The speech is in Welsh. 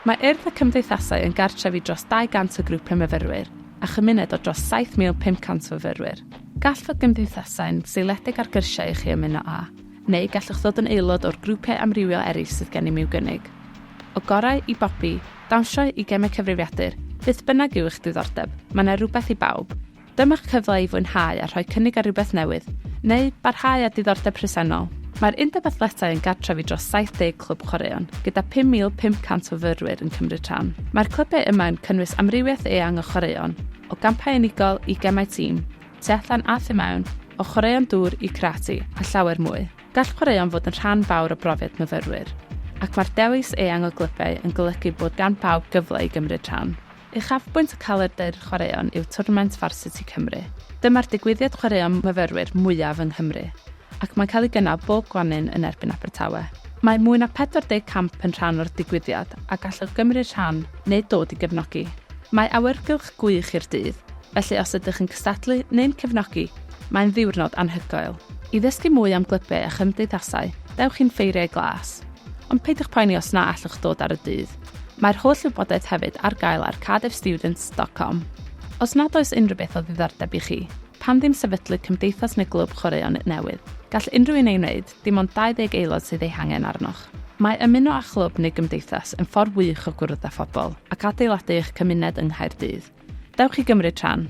Mae Urdd y Cymdeithasau yn gartref i dros 200 o grwpiau myfyrwyr a chymuned o dros 7,500 o fyfyrwyr. Gall fod gymdeithasau'n seiliedig ar gyrsiau i chi ymuno â, neu gallwch ddod yn aelod o'r grwpiau amrywiol eraill sydd gennym i'w gynnig. O gorau i bopi, dawnsio i gemau cyfrifiadur, beth bynnag yw eich diddordeb, mae 'na rywbeth i bawb. Dyma'ch cyfle i fwynhau a rhoi cynnig ar rywbeth newydd, neu barhau â diddordeb presennol. Mae'r Undeb Athletau yn gartref i dros 70 clwb chwaraeon, gyda 5,500 o fyrwyr yn cymryd rhan. Mae'r clybiau yma yn cynnwys amrywiaeth eang o chwaraeon, o gampau unigol i gemau tîm, tu allan a thu mewn, o chwaraeon dŵr i karate, a llawer mwy. Gall chwaraeon fod yn rhan fawr o brofiad myfyrwyr, ac mae'r dewis eang o glybiau yn golygu bod gan bawb gyfle i gymryd rhan. Uchafbwynt y calendr chwaraeon yw twrnament Varsity Cymru. Dyma'r digwyddiad chwaraeon myfyrwyr mwyaf yng Nghymru, ac mae'n cael ei gynnal bob gwanwyn yn erbyn Abertawe. Mae mwy na 40 camp yn rhan o'r digwyddiad a gallwch gymryd rhan neu dod i gefnogi. Mae awyrgylch gwych i'r dydd, felly os ydych yn cystadlu neu'n cefnogi, mae'n ddiwrnod anhygoel. I ddysgu mwy am glybiau a chymdeithasau, dewch i'n Ffeiriau Glas. Ond peidiwch poeni os na allwch ddod ar y dydd. Mae'r holl wybodaeth hefyd ar gael ar cardiffstudents.com. Os nad oes unrhyw beth o ddiddordeb i chi, pam ddim sefydlu cymdeithas neu glwb chwaraeon newydd? Gall unrhyw un ei wneud, dim ond 20 aelod sydd eu hangen arnoch. Mae ymuno â chlwb neu gymdeithas yn ffordd wych o gwrdd â phobl ac adeiladu eich cymuned yng Nghaerdydd. Dewch i gymryd rhan!